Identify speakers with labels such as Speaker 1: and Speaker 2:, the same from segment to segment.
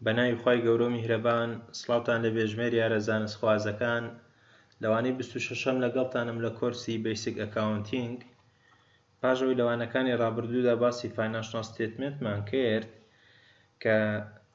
Speaker 1: بەناوی خوای گەورەو میهرەبان سڵاوتان لە بێژمێر یارە زانست خوازەکان لەوانەی بیست و شەشەم لەگەڵتانم لە کۆرسی بەیسک ئەکاونتینگ پاش ئەوەی لەوانەکانی ڕابردوودا باسی فایناشناڵ ستەیتمێنتمان کرد کە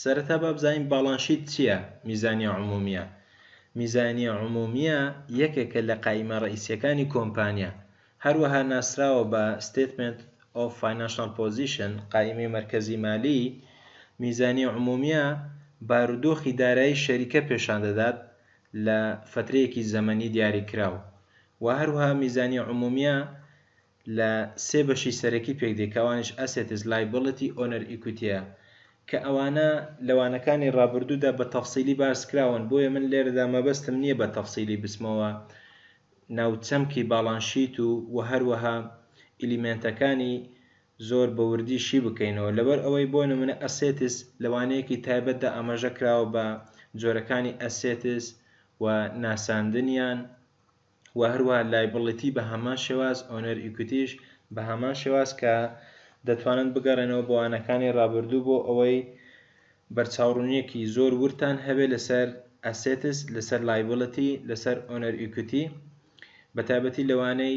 Speaker 1: سەرەتا با بزانین باڵانشیت چییە، میزانیە عمومیە، میزانیە عمومیە یەکێکە لە قایمە ڕەئیسیەکانی کۆمپانیا، هەروەها ناسراوە بە Statement of Financial Position، قایمەی مەرکەزی مالی، میزانیە عمومیە بارودۆخی دارایی شەریکە پێشان دەدات لە فەترەیەکی زەمەنی دیاریکراو، وە هەروەها میزانیە عمومیە لە سێ بەشی سەرەکی پێکدێ کە ئەوانیش Assets، Liability، Owner Equity ە کە ئەوانە لە وانەکانی ڕابردوودا بە تەفسیلی باس کراون بۆیە من لێرەدا مەبەستم نییە بە تەفسیلی بچمەوە ناو چەمکی باڵانس شیت و وە هەروەها ئیلیمێنتەکانی زۆر بە وردی شی بکەینەوە لەبەر ئەوەی بۆ نمونە Assets لە وانەیەکی تایبەتدا ئاماژە کراوە بە جۆرەکانی Assets و ناساندنیان و هەروەها لایبڵیتی بە هەمان شێواز، ئۆنەر ئیکویتیش بە هەمان شێواز کە دەتوانن بگەڕێنەوە بۆ وانەکانی ڕابردوو بۆ ئەوەی بەرچاوڕوونییەکی زۆر وردتان هەبێت لەسەر ئەسێتس، لەسەر لایبڵیتی، لەسەر ئۆنەر ئیکویتی بە تایبەتی لە وانەی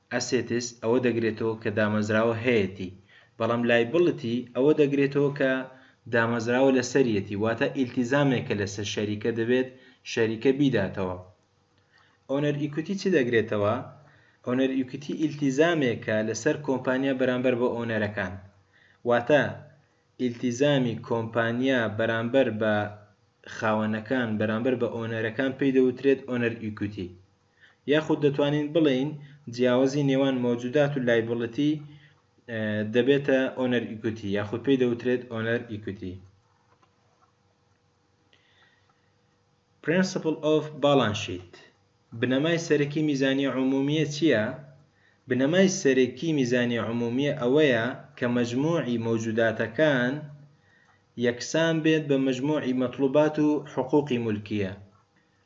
Speaker 1: ئەسێتس ئەوە دەگرێتەوە کە دامەزراوە هەیەتی، بەڵام لایبڵتی ئەوە دەگرێتەوە کە دامەزراوە لەسەریەتی، واتە ئیلتیزامێکە لەسەر شەریکە دەبێت شەریکە بیداتەوە. ئۆنەر ئیکویتی چی دەگرێتەوە؟ ئۆنەر ئیکویتی ئیلتیزامێکە لەسەر کۆمپانیا بەرامبەر بە ئۆنەرەکان، واتە ئیلتیزامی کۆمپانیا بەرامبەر بە خاوەنەکان بەرامبەر بە ئۆنەرەکان پێی دەوترێت ئۆنەر ئیکویتی. یاخود دەتوانین بڵێین جیاوزی نێوان مەوجودات و لایبڵتی دەبێتە ئۆنەر ئیکوتی یاخود پێی دەوترێت ئۆنەر ئیکوتی. Principle of Balance Sheet بنەمای سەرەکی میزانیە عمومیە چیە؟ بنەمای سەرەکی میزانیە عمومیە ئەوەیە کە مەجموعی مەوجوداتەکان یەکسان بێت بە مەجموعی مەتڵوبات و حقوقی مولکیە.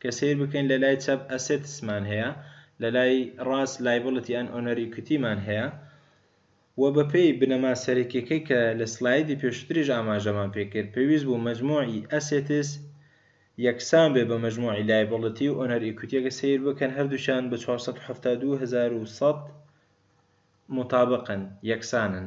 Speaker 1: کە سەیر بکەین لە لای چەپ Assets مان هەیە، لە لای ڕاست Liability and Owner Equity مان هەیە و بە پێی بنەما سەرەکیەکەی کە لە سلایدی پێشوتریش ئاماژەمان پێ کرد پێویست بوو مەجموعی Assets یەکسان بێ بە مەجموعی Liability و Owner Equity ئەگەر سەیر بکەن هەردووکیان بە چوار سەد و حەفتا و دوو هەزار و سەد مطابقن، یەکسانن.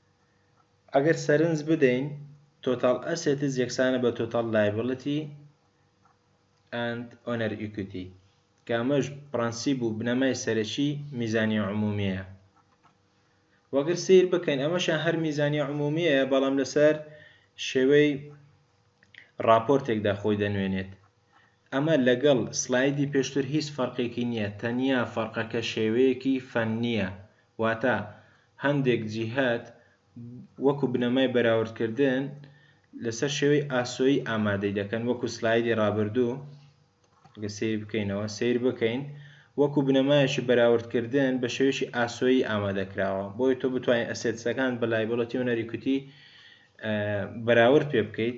Speaker 1: ئەگەر سەرنج بدەین Total Assets یەکسانە بە Total Liabilities and Owner Equity کە ئەمەش پڕەنسیب و بنەمای سەرەکی میزانیە عمومیەیە و ئەگەر سەیر بکەین ئەمەشیان هەر میزانیە عمومیەیە بەڵام لەسەر شێوەی ڕاپۆرتێکدا خۆی دەنوێنێت. ئەمە لەگەڵ سلایدی پێشتر هیچ فەرقێکی نییە، تەنیا فەرقەکە شێوەیەکی فەننییە، واتە هەندێک جیهەت وەکو بنەمای بەراوردکردن لەسەر شێوەی ئاسۆیی ئامادەی دەکەن، وەکو سلایدی ڕابردوو، گەر سەیری بکەینەوە، سەیر بکەین، وەکو بنەمایەکی بەراوردکردن بە شێوەیەکی ئاسۆیی ئامادە کراوە، بۆیە تۆ بتوانیت ئەسێتسەکان بە لایبڵەتی هونەری کوتی بەراورد پێ بکەیت.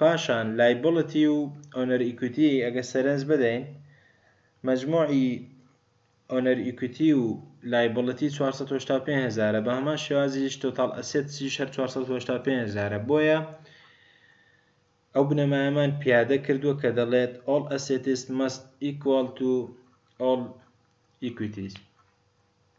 Speaker 1: پاشان لایبڵتی و ئۆنەر ئیکویتی ئەگەر سەرنج بدەین مەجموعی ئۆنەر ئیکویتی و لایبڵتی چوار سەد و هەشتا و پێنج هەزارە بە هەمان شێوازیش تۆتاڵ ئەسێتسیش هەر چوار سەد و هەشتا و پێنج هەزارە بۆیە ئەو بنەمایەمان پیادە کردووە کە دەڵێت all assets must equal to all equities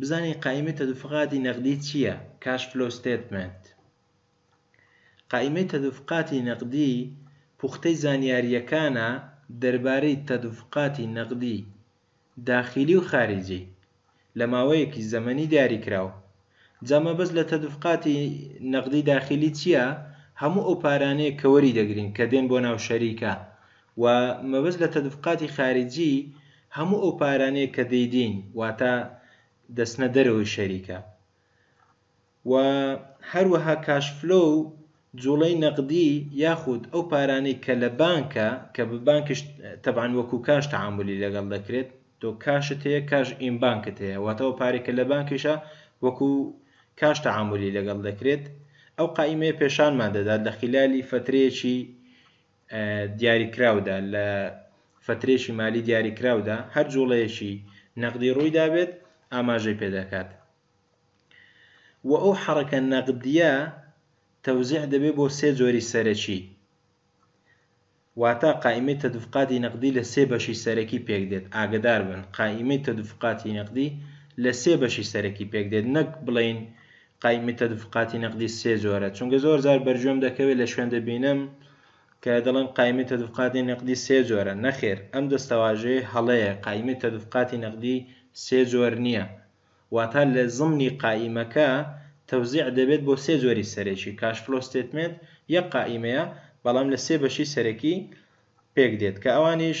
Speaker 1: بزانین قائیمەی تەدوفقاتی نەقدی چیە Cash Flow Statement قائیمەی تەدوفقاتی نەقدی پوختەی زانیاریەکانە دەربارەی تەدوفقاتی نەقدی داخیلی و خاریجی لە ماوەیەکی زەمەنی دیاریکراو جا مەبەست لە تەدوفقاتی نەقدی داخیلی چیە هەموو ئەو پارانەیە کە وەری دەگرین کە دێن بۆ ناو شەریکە و مەبەست لە تەدفقاتی خارجی هەموو ئەو پارانەیە کە دەیدەین واتا دەچنە دەرەوەی شەریکە و هەروەها کاش فلۆ و جوڵەی نەقدی یاخود ئەو پارانەی کە لە بانکە کە بە بانکش تەبعەن وەکو کاش تەعامولی لەگەڵ دەکرێت تۆ کاشت هەیە کاش ئیم بانکت هەیە واتا ئەو پارەی کە لە بانکیشە وەکو کاش تەعامولی لەگەڵ دەکرێت ئەو قائیمەیە پێشانمان دەدات لە خیلالی فەترەیەکی دیاریکراودا، لە فەترەیەکی مالی دیاریکراودا، هەر جوڵەیەکی نەقدی ڕوویدابێت ئاماژەی پێدەکات و ئەو حەڕەکە نەقدییە تەوزیع دەبێت بۆ سێ جۆری سەرەکی، واتە قائیمەی تەدفقاتی نەقدی لە سێ بەشی سەرەکی پێکدێت، ئاگەداربن قائیمەی تەدفقاتی نەقدی لە سێ بەشی سەرەکی پێکدێت نەک بڵێین قایمی تەدفقاتی نەقدی سێ جۆرە چونگە زۆر جار بەرگوێم دەکەوێت لە شوێن دەبینم کە دەڵێن قایمی تەدفقاتی نەقدی سێ جۆرە نەخێر ئەم دەستەواژەیە هەڵەیە قایمی تەدفقاتی نەقدی سێ جۆر نییە واتا لە زمنی قایمەکە تەوزیع دەبێت بۆ سێ جۆری سەرەکی کاش فلۆ ستێتمێنت یەک قائیمەیە بەڵام لە سێ بەشی سەرەکی پێک دێت کە ئەوانیش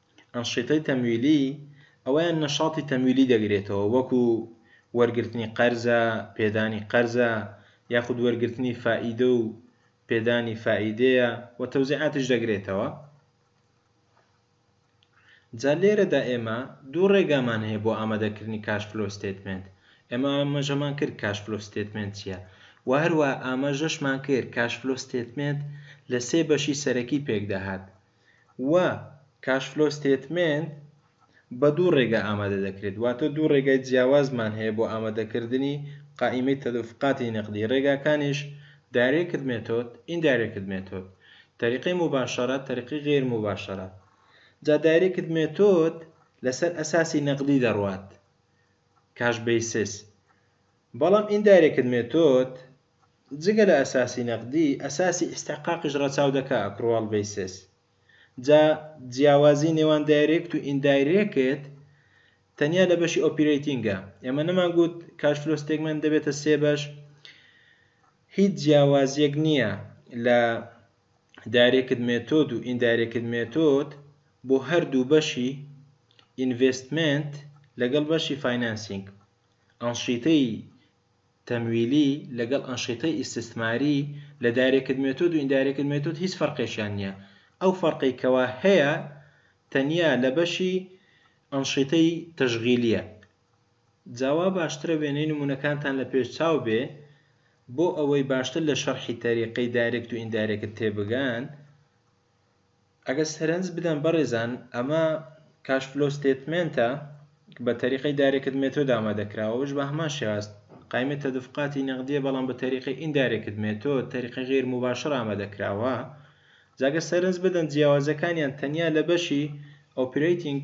Speaker 1: ئەنشیتەی تەمویلی ئەوەیان نەشاتی تەمویلی دەگرێتەوە وەکو وەرگرتنی قەرزە، پێدانی قەرزە یاخود وەرگرتنی فائیدە و پێدانی فائیدەیە و تەوزیعاتیش دەگرێتەوە. جا لێرەدا ئێمە دوو ڕێگامان هەیە بۆ ئامادەکردنی کاش فلۆ ستەیتمێنت. ئێمە ئاماژەمان کرد کاش فلۆ ستەیتمێنت چیە و هەروەها ئاماژەشمان کرد کاش فلۆ ستەیتمێنت لە سێ بەشی سەرەکی پێکدەهات. و کاش فلۆ ستێتمێنت بە دوو ڕێگا ئامادە دەکرێت واتە دوو ڕێگای جیاوازمان هەیە بۆ ئامادەکردنی قائیمەی تەدفقاتی نقدی ڕێگاکانیش دایرێکت مێتۆد ئیندایرێکت مێتۆد تەریقەی موباشەرە تەریقەی غەیر موباشەرە جا دایرێکت مێتۆد لەسەر ئەساسی نقدی دەڕوات کاش بەیسس بەڵام ئیندایرێکت مێتۆد جگە لە ئەساسی نەقدی، ئەساسی ئیستحقاقیش ڕەچاو دەکا ئەکروال بەیسس. جا جیاوازی نێوان دایرێکت و ئیندایرێکت تەنیا لە بەشی ئۆپیرەیتینگە. ئێمە نەمان گوت کاش فلۆ ستێگمێنت دەبێتە سێ بەش؟ هیچ جیاوازیەک نیە لە دایرێکت مێتۆد و ئیندایرێکت مێتۆد بۆ هەردوو بەشی ئینڤێستمێنت لەگەڵ بەشی فاینانسینگ. ئەنشیتەی تەمویلی لەگەڵ ئەنشیتەی ئیستسماری لە دایرێکت مێتۆد و ئیندایرێکت مێتۆد هیچ فەرقێکیان نییە ئەو فەرقەی کەوا هەیە تەنیا لە بەشی ئەنشیتەی تەشغیلیە جا وا باشترە وێنەی نمونەکانتان لە پێش چاو بێ بۆ ئەوەی باشتر لە شەرحی تەریقەی دایرێکت و ئیندایرێکت تێبگەن. ئەگەر سەرنج بدەن بەڕێزان ئەمە کاش فلۆو ستەیتمێنتە بە تەریقەی دایرێکت مێتۆد ئامادە کراوە ئەوەش بە هەمان شێوە هەست قایمە تەدفقاتی نەقدیە بەڵام بە تەریقەی ئیندایرێکت مێتۆد تەریقەی غەیر موباشەر ئامادە کراوە جا گەر سەرنج بدەن جیاوازیەکانیان تەنیا لە بەشی ئۆپرەیتینگ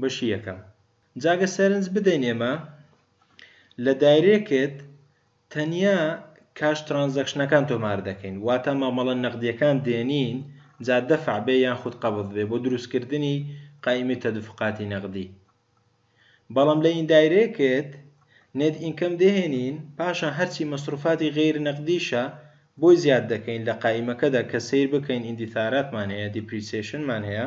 Speaker 1: بەشی یەکەم جا گەر سەرنج بدەین ئێمە لە دایرێکت تەنیا کاش ترانزەکشنەکان تۆمار دەکەین واتا مامەڵە نەقدیەکان دێنین جا دەفع بێ یان خود قەبض بێ بۆ دروست کردنی قائیمەی تەدفقاتی نەقدی بەڵام لە ئیندایرێکت نێت ئینکەم دەهێنین پاشان هەرچی مەسروفاتی غەیر نەقدیشە بۆی زیاد دەکەین لە قائیمەکەدا کە سەیر بکەین ئیندیثاراتمان هەیە دیپریسێشنمان هەیە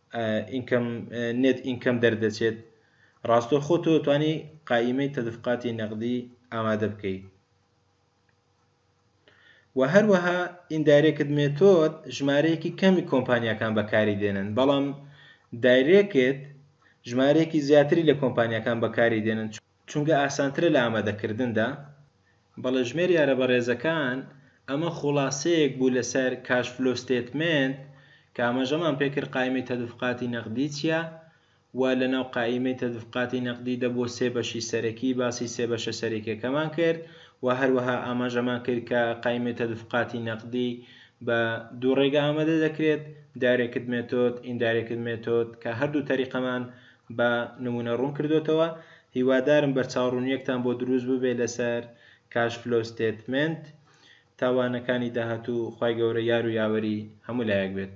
Speaker 1: ئینکەم نێت ئینکەم دەردەچێت ڕاستەوخۆ تۆ توانی قائیمەی تەدفقاتی نەقدی ئامادە بکەیت و هەروەها ئیندایرێکت مێتۆد ژمارەیەکی کەمی کۆمپانیەکان بەکاری دێنن بەڵام دایرێکت ژمارەیەکی زیاتری لە کۆمپانیەکان بەکاری دێنن چون چونکە ئاسانترە لە ئامادەکردندا، بەڵێ ژمێر یارە بەڕێزەکان ئەمە خوڵاسەیەک بوو لەسەر کاش فلۆ ستێتمێنت کە ئاماژەمان پێکرد قایمەی تەدفقاتی نەقدی چیە و لەناو قائیمەی تەدفقاتی نەقدی دە بۆ سێ بەشی سەرەکی باسی سێ بەشە سەرەکیەکەمان کرد و هەروەها ئاماژەمان کرد کە قایمەی تەدفقاتی نەقدی بە دوو ڕێگە ئامادە دەکرێت دایرێکت مێتۆد ئیندایرێکت مێتۆد کە هەردوو تەریقەمان بە نموونە ڕوون کردۆتەوە، هیوادارم بەرچاوڕوونیەکتان بۆ دروست ببێت لەسەر کاش فلۆ ستێتمێنت تا وانەکانی داهاتوو، خوای گەورە یار و یاوەری هەموو لایەک بێت.